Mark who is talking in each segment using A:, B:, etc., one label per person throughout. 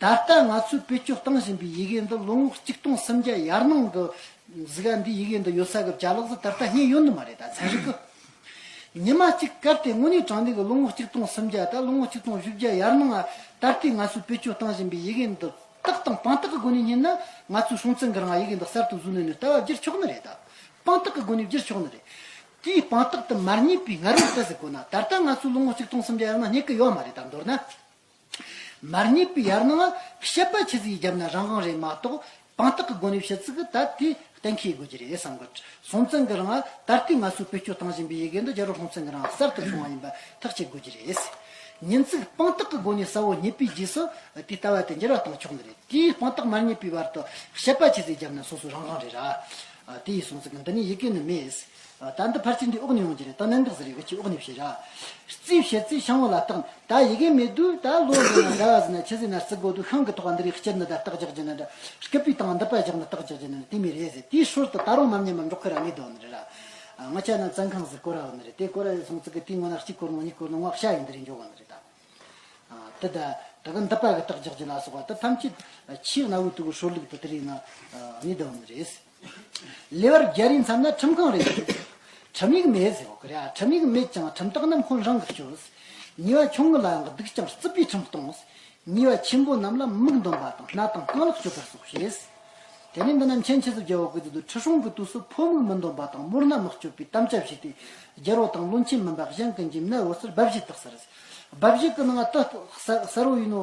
A: ད་ལྟ་ང་ཚོས་བེད་སྤྱོད་གཏང་བཞིན་པའི་ཡི་གེ་འདི་ལོ་ངོ་གཅིག་སྟོང་སུམ་བརྒྱ་ཡར་སྣང་གི་གཟི་ག་འདི་ཡི་གེ་འདི་ཡོད་ས་གི་བྱ་ལོག་ཟ་ད་ལྟ་རྙེད་ཡོད་ནི་མ་རེད་ད་ཚན་རིག་གི་ཉི་མ་གཅིག་སྐབས་དེ་སྔོན་ནས་དྲང་བདེན་གི་ལོ་ངོ་གཅིག་སྟོང་སུམ་བརྒྱ་ད་ལོ་ངོ་གཅིག་སྟོང་བཞི་བརྒྱ་ཡར་སྣང་ང་ད་ལྟའི་ང་ཚོས་བེད་སྤྱོད་གཏང་བཞིན་པའི་ཡི་གེ་འདི་རྟགས་དང་དཔང་རྟགས་ཀི་སྒོ་ནས་རྙེད་ན་ང་ཚོའི་སྲོང་བཙན་གི་རང་ཡི་གེ་འདི་གསར་དུ་བཟོས་ནས་ནི་ལྟ་བ་བསྒྱུར་ཆོག་ནི་རེད་ད་དཔང་རྟགས་ཀི་སྒོ་ནས་བསྒྱུར་ཆོག་ནི་རེད་དེའི་དཔང་རྟགས་དེ་མར་རྙེད་པའི་ང་རོ་ལྟ་ཟེར་དགོས་ན་ད་ལྟ་ང་ཚོས་ལོ་ངོ་གཅིག་སྟོང་སུམ་བརྒྱ་ཡར་སྣང་རྙེད་གི་ཡོད་མ་རེད་ད་མདོར་ན། མར་ཉེས་པའི་ཡར་སྣང་བ་ཤེས་པ་ཆེ་ཚིག་བརྒྱབ་ན་རང་དབང་རེད་མ་གཏོགས་དཔང་རྟགས་ཀྱི་སྒོ་ནས་བཤད་ཚིག་ད་ལྟའི་གཏན་འཁེལ་དགོས་ཀྱི་རེད་བསམ་གི། སྲོང་བཙན་གྱི་རིང་ད་ལྟའི་ང་ཚོས་བེད་སྤྱོད་བཏང་བཞིན་པའི་ཡི་གེ་འདི་རྒྱ་རོགས་སྲོང་བཙན་གྱི་རིང་གསར་དུ་བྱུང་བ་ཡིན་པ་ཐག་བཅད་དགོས་ཀྱི་རེད། ཉིན་ཚིག་དཔང་རྟགས་ཀྱི་སྒོ་ནས་གསལ་བོ་ཉེས་པའི་རྗེས་སུ་དེ་ལྟ་བ་དེ་འགྱུར་བ་བཏང་ཆོག་ནི་རེད་དེའི་དཔང་རྟགས་མར་ཉེས་པའི་བར་དུ་ཤེས་པ་ཆེ་ཚིག་བརྒྱབ་ན་སོ་སོའི་རང་དབང་རེད། དེ་ཡིས་སྲོང་བཙན་གྱི་འདི་ནས་ཡི་གེ་ནི་མེད། ད་འདི་ཕར་ཚིག་འདི་ཨོག་ནས་ཡོང་གི་རེད་ད་ནན་ཏག་ཟེར་ཡི་གེ་ཁྱི་ཨོག་ནས་བཤད་ར། རྩིས་བཤད་རྩིས་བྱང་བོ་ལ་བརྟག་ད་ཡི་གེ་མེད་དུས་ད་ལོ་འདི་ན་ཟླ་བ་ཟིན་ན་ཕྱི་ཟིན་ན་རྩི་དགོས་དུས་ཤང་གི་ཐོག་འདི་རིགས་སྤྱིར་འདི་ད་རྟགས་རྒྱག་རྒྱུ་ན་འདྲ་སྐད་པའི་སྟེང་འདི་པ་རྒྱག་ན་རྟགས་རྒྱག་རྒྱུ་ན་འདྲ་དེ་མི་རེད་ཟེར་དེའི་ཧྲུལ་དུ་ད་རུང་མམ་ཉམས་མམ་འགྲོག་གི་ར་ལས་དོན་རེད་ར། ང་ཅག་རྣམས་བཙན་ཁང་ཟིག་བསྐོར་ར་ནི་རེད་དེ་བསྐོར་ར་ཡོད་སོང་ཚིག་གི་དེའི་སྔོན་ན་གཅིག་བསྐོར་ནོ་གཉིས་བསྐོར་ནོ་སྔགས་ཤ་ཡིན་འདི་རིགས་འཇོག་གི་ནི་རེད་ད། དེ་ད་གི་འདི་པ་གི་རྟགས་རྒྱག་རྒྱུ་ལ་སོགས་པ་འདི་ཐམས་ཅད་ཕྱིའི་གནའ་བོའི་དུག་གི་ཧྲུལ་ལུགས་དུ་དེ་རིགས་ནི་དོན་རེད། ལེ་བར་རྒྱ་རིའི་མཚམས་ན་ཁྲིམས་ཁང་རེ་ཞིག་ཡོད། ཁྲིམས་ཡིག་མེད་ཟེར་བ་རེད། ཁྲིམས་ཡིག་མེད་ཀྱང་ཁྲིམས་རྟགས་རྣམས་ཁོང་རང་གིས་བཅོས། ཉེས་བ་ཆུང་ངུ་ལ་ཡང་སྡུག་ཅིང་རྩུབ་པའི་ཁྲིམས་གཏོང། ཉེས་བ་ཆེན་པོ་རྣམས་ལ་མིག་འདོན་པ་དང་སྣ་དང་རྐང་ལག་གཅོད་པར་སོགས་བྱེད། དེ་ནས་འདི་ནི་མཁྱེན་ཆེ་ཚོ་རྒྱལ་བ་དགོས་འདོད་དུ་ཁྲི་སྲོང་གི་དུས་སུ་ཕོ་མིག་མི་འདོན་པ་དང་དམུར་སྣ་མི་གཅོད་པའི་གཏམ་ཅི་བྱས་ཏེ་རྒྱལ་བོ་དང་བློན་ཆེན་མིན་པ་གཞན་གྱི་འཇིམ་སྣ་འོད་ཟེར་འབབ་བཞི་དག་ཟེར། འབབ་བཞི་གི་ནང་ལ་དུ་གསར་བོ་ཡིན་ནོ།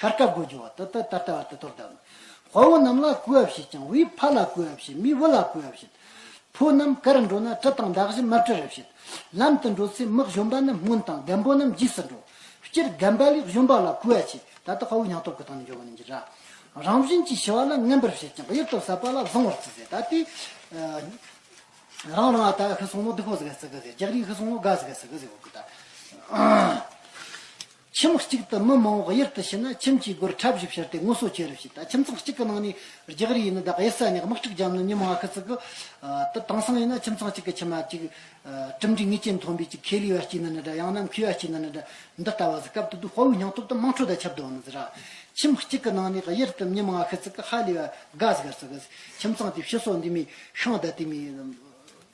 A: ཤར་སྐབས་སྒོ་རྒྱུ་བ་དུ་ཏར་ཏར་ལྟ་བ་དུ་ཏོར་ལྟ། དཔའ་བོ་རྣམས་ལ་བསྐུལ་བ་བྱེད་ཅིང་བུའི་ཕ་ལ་བསྐུལ་བ་བྱེད་མིའི་བུ་ལ་བསྐུལ་བ་བྱེད། ཕོ་རྣམས་ཀར་འགྲོ་ན་གྲི་དང་འདག་བཞི་མར་གྲི་རེ་བྱེད། ལམ་དུ་འགྲོ་ཚེ་མིག་གཞོམ་པ་རྣམས་སྔོན་དང་རྒན་པོ་རྣམས་རྗེས་སུ་འགྲོ། སྤྱིར་རྒན་པ་ལས་གཞོམ་པ་ལ་བསྐུལ་བ་བྱེད་ད་ལྟ་དཔའ་བོའི་ཉང་སྟོབས་ཀྱི་སྟེང་ནས་འཇོག་པ་ནི་འཇིགས་ར། རང་བཞིན་གྱིས་ཞི་བ་ལ་རྔན་པར་བྱེད་ཅིང་གཡུལ་དུ་ཟ་བ་ལ་བཟང་བར་བརྩི་ཟེར་ད་ལྟའི། རང་རང་ཨ་ཏའི་ཧི་སོང་ལོ་སྡིག་པོ་ཟེར་ག་ཟེ་གི་ཟེར་རྒྱག་རིའི་ཧི་སོང་ལོ་དགའ་ཟེར་ག་ཟེ་གི་ཟེར་གོ་ད། ཁྱིམ་གཅིག་ཏུ་མི་མང་བོ་དབྱེར་དུ་ཕྱིན་ན་ཁྱིམ་གྱི་སྒོར་ཁྲབ་བཞི་ཕྱིར་ཏེ་ངོ་སོ་བཅུ་རེ་བྱས་ད་ཁྱིམ་ཚང་གཅིག་གི་ནང་ནས་བརྒྱག་རིགས་ཡིན་ན་བདག་དབྱེ་ས་ཉག་དམག་ཁྲིག་འཇམ་ནི་ཉི་མ་ང་ཁི་ཙི་གི། ཏི་དང་སང་ཡིན་ན་ཁྱིམ་ཚང་གཅིག་གི་ཁྱི་མ་གཅིག། གྲུམ་གྲི་ངེས་ཅན་མཐོན་པོའི་གཅིག་ཁེ་ལི་བ་གཅིག་ནི་ནི་འདྲ་ཡང་ན་མཁུའི་བ་གཅིག་ནི་ནི་འདྲ་འདི་ལྟ་བ་ཟི་སྐབས་དུ་དུ་དཔའ་བོའི་སྙིང་སྟོབས་དང་དམངས་ཁྲོད་དང་ཆབ་དོན་ནི་ཟི་ར། ཁྱིམ་གཅིག་གི་ནང་ནས་དབྱེར་དུ་ཉི་མ་ང་ཁི་ཙི་གི་ཧ་ལི་བ་དགའ་ཟི་གར་ཙི་གི། ཁྱིམ་ཚང་དེ་བཤུ་སོགས་འདི་མི་ཤང་དད་དེ་མི།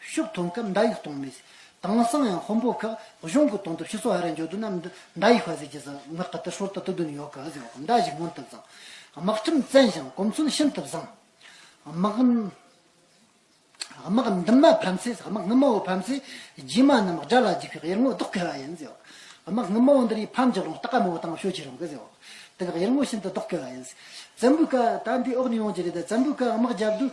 A: ཤུགས་གཏོང་སྐབས་མདའ་ཡིག་གཏོང་མི་སྲིད། དེང་སང་ཡང་ཧོམ་སྤོ་ཁག་གཞུང་གིས་གཏོང་ཐབས་ཤིག་སོགས་ཧ་ར་འཇོག་འདོད་ན་མདའ་ཡིག་ཧ་ཟེར་གྱི་ཟེར་ངག་ག་ཏི་ཧྲོལ་ཏི་ཏི་དུ་ནི་ཡོད་གི་ཧ་ཟེར་བ་དང་མདའ་བཞི་མངོན་དུ་བཟང། དམག་ཁྲིམས་བཙན་ཞིང་གོམས་སྲོལ་ཤིན་ཏུ་བཟང། དམག་དམག་འདུན་མ་ཕམ་ཚེ་དམག་དངུལ་མང་བོ་ཕམ་ཚེ་རྗེས་མ་རྣམས་དགྲ་ལ་འཇིགས་པའི་གཡེར་ངོ་ལྡོག་གི་ཧ་ཡིན་ཟེར། དམག་དངུལ་མང་བོ་འདི་རིགས་ཕམ་ཀྱི་རུང་སྟག་ག་མང་བོ་བཏང་ཤོས་ཀྱི་རུང་གི་ཟེར། དེ་ལ་གཡེར་ངོ་ཤིན་ཏུ་ལྡོག་གི་ཧ་ཡིན། བཙན་པོའི་བཀའ་ད་འདིའི་འོག་ནས་ཡོང་གི་རེད་ད་བཙན་པོའི་བཀའ་དམག་རྒྱབ་དུས་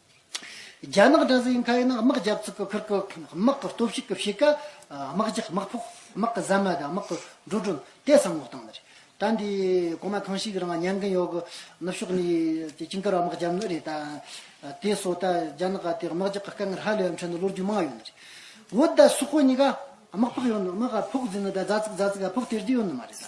A: རྒྱ་ནག་དྲ་ཟིའི་མཁའ་དབྱིངས་ནང་དམག་རྒྱབ་ཚུགས་ཀྱི་ཁུར་ཁུ་དམག་གི་སྟོབས་ཤུགས་ཀྱི་ཕྱེད་ཀ་དམག་རྒྱག་དམག་ཕོག་དམག་གི་ཟ་མ་དང་དམག་གི་འགྲོ་གྲོན་དེ་བསམ་བློ་བཏང་ནི་རེད། ད་འདི་གོང་མ་གང་ཞིག་གི་རང་ཉན་གིན་ཡོད་གི་ནུབ་ཕྱོགས་ནས་སྤྱི་འཁར་བ་དམག་རྒྱབ་ནི་རེད་ད། དེ་སོགས་ད་རྒྱ་ནག་དེ་དམག་རྒྱག་གི་དཀའ་ངལ་ཧ་ལས་པའི་འཕྲལ་ནི་བློ་རྒྱུ་མང་ཡོད་ནི་རེད། འོ་ད་སུ་ཁོ་གཉིས་ཀ་དམག་ཕོག་ཡོད་ནི་དམག་ཕོག་ཟིན་ནི་ད་རྫ་ཚིག་རྫ་ཚིག་ཕོག་སྟེར་རྒྱུ་ཡོད་ནི་མ་རེད་ད།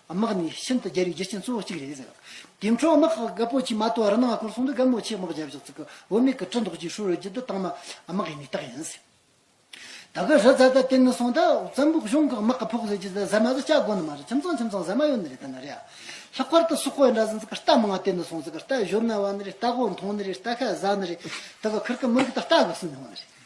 A: དམག་ནི་ཤིན་ཏུ་རྒྱལ་བའི་རྒྱུ་རྐྱེན་གཙོ་བོ་གཅིག་རེད། དེ་འཕྲོག་དམག་གི་རྒ་པོ་ཆེ་མ་ཏོ་རི་ནག་ཁོར་སོང་དུས་རྒ་མོ་ཆེ་དམག་རྒྱལ་བཞག་ཚུལ་གྱི་འོ་མེད་ཀྱི་གྲི་མདོག་ཅིག་ཧྲུལ་ཧྲུལ་གྱིས་འདི་དག་ནི་དམག་གི་མི་རྟགས་ཡིན། ད་གི་རི་རྫ་དེ་བརྟན་ནས་སོང་ད་བཙན་པོ་གཞུང་གི་དམག་གི་ཕོག་ལས་ཀྱིས་ཟ་མ་ཟ་བྱ་དགོ་ནི་མ་རེད་ཁྱིམ་ཚང་ཁྱིམ་ཚང་ཟ་མ་ཡོད་ནི་རེད་ད་ནི་རེད། ལྷག་པར་དུ་སུ་ཁོ་ཡི་འདྲ་ཟིན་ཚུལ་གྱི་རྟ་མང་བརྟན་ནས་སོང་ཚུལ་གྱི་རྟ་བཞོ་ན་བ་ནི་རེད་རྟ་གོ་མཐོང་ནི་རེད་རྟ་ཁ་ཟ་ནི་རེད་ད་གི་ཁུར་གྱི་མི་རིགས་དང་རྟ་གི་སུན་ཡོང་ནི་རེད།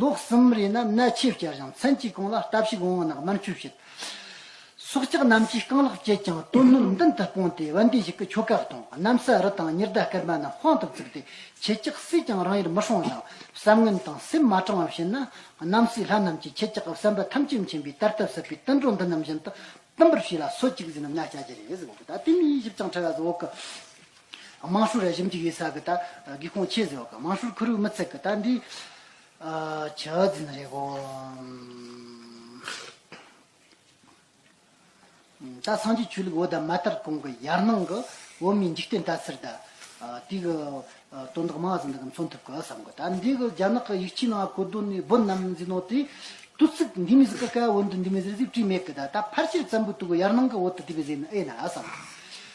A: ལོ་གསུམ་རེ་ན་ནད་ཆེས་བསྐྱལ་ཞིང་མཚན་གཅིག་གང་ལ་ལྟ་བྱེད་དགོང་མོ་ནགས་མར་འཁྱུད་བྱེད། སྲོག་ཆགས་རྣམས་ཀྱིས་རྐང་ལག་བཅད་ཀྱང་རྟོད་སྣུར་མདུན་དུ་སྤུངས་ཏེ་བན་དེ་ཞིག་གི་ཁྱོ་ག་དང་གནམ་ས་རི་དང་ཉི་ཟླ་སྐར་མ་རྣམས་དཔང་དུ་བཙུགས་ཏེ་ཁྱི་སྐྱག་བསྲེས་ཀྱང་རང་ཡུལ་མི་སྲུང་ཞིང་གསབ་དངུལ་དང་སེམས་མ་དྲང་བར་བྱེད་ན་གནམ་སའི་ལྷ་རྣམས་ཀྱིས་ཁྱི་སྐྱག་གི་བསམ་པ་ཐམས་ཅད་མཁྱེན་པའི་དར་ཐབས་ཟབ་པའི་དུད་འགྲོ་འདི་རྣམས་བཞིན་དུ་བསྟིམ་པར་བྱས་ལ་སོ་གཅིག་བཟས་ན་ན་བསྐྱལ་གྱི་རེད། དེ་མིན་ཡིད་ཞིབ་ཅིང་ཕྲ་བའི་ཟོག་གི། དམངས་ཧྲུའུ་རེ་ཞིམ་གྱི་ཡོད་སར་གི་ད་གི་ཁོང་ཆེ་ཟེར་བ་ག་དམངས་ཧྲུའུ་ཁུ་རུའུ་མི་ཚེ་གི་ད་འདི་ཆ་ཟིན་རེད་གོ། ད་སངས་རྒྱས་ཆོས་ལུགས་འོ་ད་མ་ལྟར་གོང་གི་ཡར་སྣང་གི་འོ་མའི་འཇིག་རྟེན་ད་ཚེར་ད་དེ་གི་དོན་དག་མང་ཟིན་ད་གི་མཚོན་ཐུབ་གི་བསམ་གི་ད་འདི་གི་རྒྱ་ནག་གི་ཡིག་ཆའི་ནང་གོ་དོན་ནི་བོད་རྣམས་འཛིན་ནོ་དེ་དུ་ཚིག་འདི་མི་ཟིག་གི་ཀ་བོད་འདི་འདི་མི་ཟིག་ཟིག་བྲིས་མེད་གི་ད་ད་ཕར་ཕྱིར་ཙམ་པོ་དུ་གི་ཡར་སྣང་གི་འོ་ད་དེ་བས་ཟེར་ནི་ཨེ་ན་བསམ་གི།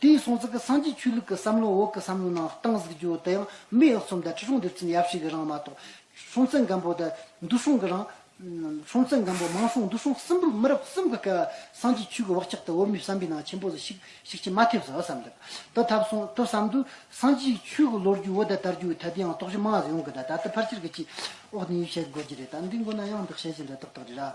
A: དེའི་གསུང་ཚིག་གི་སངས་རྒྱས་ཆོས་ལུགས་ཀྱི་བསམ་བློ་འོག་གི་བསམ་བློའི་ནང་གཏིང་གཟིགས་རྒྱུ་དེ་ཡང་མི་ཡག་རྩོམ་དང་ཁྲི་སྲོང་ལྡེབ་ཚེམས་ཡབ་ཞིག་གི་རང་མ་གཏོགས། སྲོང་བཙན་སྒམ་པོ་དང་འདུ་སྲོང་གི་རང། སྲོང་བཙན་སྒམ་པོ་མང་སྲོང་འདུ་སྲོང་གསུམ་པོར་མི་རབས་གསུམ་གྱི་སྐལ་བ་སངས་རྒྱས་ཆོས་ཀྱི་བག་ཆགས་དང་འོག་མའི་བསམ་པའི་ནང་ཆེན་པོ་ལ་ཞིག་ཞིག་ཅིག་མ་ཐེབས་ཟེར་བ་བསམ་འདུག་ཏུ་ཐབས་སོང་དུ་བསམ་དུས་སངས་རྒྱས་ཆོས་ཀྱི་ལོ་རྒྱུས་འོག་ད་ལྟར་རྒྱུ་བའི་དལ་དུའང་དོགས་གཞི་མང་ཟེར་ཡོང་གི་འདུག་ད་ལྟ་ཕར་ཆེར་གྱི་ཅིག་འོག་ནས་ཡིད་ཆེས་དགོས་ཀྱི་རེད་ད་འདི་མགོ་ན་ཡང་འདི་བཤད་བཞིན་དུ་ཏག་ཏག་རེད་ར།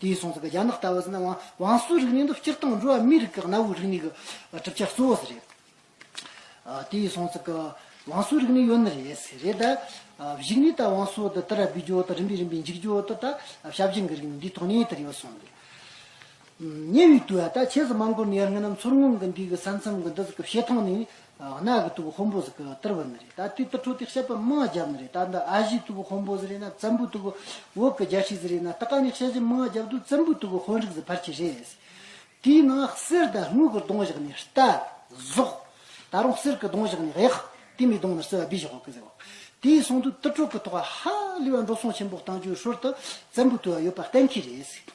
A: དེ་ཡི་གསུང་ཟིན་པའི་རྒྱ་ནག་ལྟ་བུ་ཟིན་ན་ཝང་ཝང་སུའུ་རིག་གནས་འདི་སྤྱིར་བཏང་འགྲོ་བ་མིའི་རིགས་ཀྱི་གནའ་བོའི་རིག་གནས་ཀྱི་གྲུབ་ཆ་གཙོ་བོ་ཟེར་རེད། དེ་ཡི་གསུང་ཟིན་ཝང་སུའུ་རིག་གནས་ཡོད་ནི་རེད་ཟེར་རེད། གཞིགས་ནས་ད་ཝང་སུའུ་དེ་དར་སྤེལ་རྒྱུ་དང་རིམ་པས་རིམ་པས་འཇིག་རྒྱུ་དེ་ད་ཞབས་རྗེས་འགའི་རིག་གནས་འདིའི་ཐོག་ནས་དེར་ཡོད་སོང་ཟེར། ཉེ་བའི་དུས་ད་ཆས་སུ་མང་པོ་ནས་རང་རྣམ་ཚོར་ངང་གིས་འདི་གི་ས་མཚམས་ཀྱི་འདི་ཟེར་གྱི་བཤད་ཐོག་ནས་གནའ་གི་ཏུ་བུ་ཧོམ་པོ་ཟེར་གི་ཏིར་བུ་ནི་རེད་ད་དེ་ཏི་ཁྲོ་ཏི་ཤད་པ་མང་རྒྱབ་ནི་རེད་ད་འདི་ཨ་བཞི་ཏུ་བུ་ཧོམ་པོ་ཟེར་རེད་ན་བཙན་པོ་ཏུ་བུ་འོག་གི་རྒྱལ་ཤིག་ཟེར་རེད་ན་ཏི་ཀ་ནི་ཤད་བཞི་མང་རྒྱབ་ཏུ་བཙན་པོ་ཏུ་བུ་ཧོན་རིགས་ཟེར་ཕར་ཆེ་རེད། དེའི་ནང་གསེར་དང་དངུལ་གི་གདོང་བཞག་ནི་རྟ། ཟོག། ད་རུང་གསེར་གི་གདོང་བཞག་ནི་གཡག། དེ་མི་གདོང་ནི་སོལ་བ་སྦི་བཞག་གི་ཟེར་བ། དེའི་གསང་དུ་ཏི་ཁྲོ་གི་ཐོག་ཧ་ལི་བ་འགྲོ་སོང་ཆེན་པོ་བཏང་རྒྱུའི་ཧྲོལ་ཏུ་བཙན་པོ་ཏུ་བ་ཡོད་པ་གཏན་འཁེལ་རེད།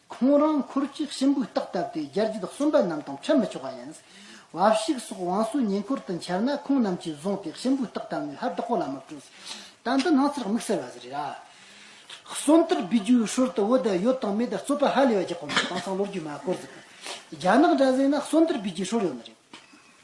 A: ཁོང་རང་འཁོར་གྱི་གཤིན་པོའི་རྟགས་བཏབ་སྟེ་རྒྱལ་གྱི་བདག་གསུམ་པ་རྣམས་དང་འཕྲད་མི་ཆོག་པ་ཡིན། བ་བཤིག་སོགས་བང་སོའི་ཉེ་འཁོར་དུ་འཁྱེར་ན་ཁོང་རྣམས་ཀྱིས་བཟུང་སྟེ་གཤིན་པོའི་རྟགས་བཏབ་ནས་ལྷ་བདག་པོ་ལ་མི་སྤྲོད། ད་འདི་སྣང་ཚུལ་དམིགས་བསལ་བ་ཞིག་རེད། གསུམ་དར་སྦས་རྒྱུའི་ཧྲུལ་དུ་བོད་དུ་ཡོད་དང་མེད་རྩོད་པ་ཧ་ལས་པ་གྱི་གོ་མིན་དེང་སང་ལོ་རྒྱུས་མ་བསྐོར་ཟིན་པས་རྒྱ་ནག་འདྲ་ཟེར་ན་གསུམ་དར་སྦས་རྒྱུའི་ཧྲུལ་ཡོད་ནི་རེད།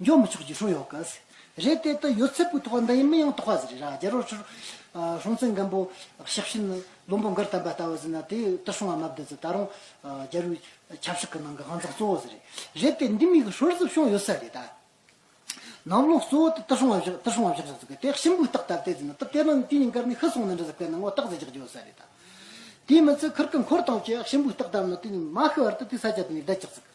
A: མགྱོགས་མི་ཆོག་ཀྱི་ཧྲུའུ་ཡོག་གི། རེད་དེ་ད་ཡོད་ཚད་པོའི་ཐོག་ལ་འདི་ཡིན་མིན་ཡང་དོགས་པ་ཟེར་རེད་ར་རྒྱལ་རོགས་ཆུར། ཧྲོང་ཙེན་སྒམ་པོ་ཞབས་ཕྱི་ནི་བློན་པོ་འགར་དམ་པ་ལྟ་བུ་ཟེར་ན་དེ་ད་སོང་བ་མ་བསྡད་ཚེ་ད་རུང། རྒྱལ་རུའི་ཆབ་སྲིད་ཀྱི་ནང་གི་དབང་ཚག་གཙོ་བོ་ཟེར་རེད། རེད་དེ་འདི་མིག་གི་ཧྲོལ་ཟིབ་ཤོང་ཡོད་ས་རེད་ད། ནང་ལོགས་གཙོ་བོ་དེ་ད་སོང་བ་བཞག་ད་སོང་བ་བཞག་ཟེར་ཚུལ་གྱི་དེ་གཤིན་པོའི་རྟགས་ལྟར་བལྟས་ཚེ་ན་ད་དེ་ནང་དུས་ཉིན་སྐར་མའི་ཤི་སོང་ན་འདྲ་ཟེར་དཔེར་ན་ངོ་རྟགས་ཟེར་རྒྱག་རྒྱུ་ཡོད་ས་རེད་ད། དེ་མིན་ཚེ་ཁར་ཀི་འཁོར་དང་བཅས་གཤིན་པོའི་རྟགས་ལྟར་ན་དེ་ནི་མ་ཤི་བར་དུ་དེ་ས་ཆ་དེ་ནས་བསྡད་ཆགས་ཚུལ་གྱི།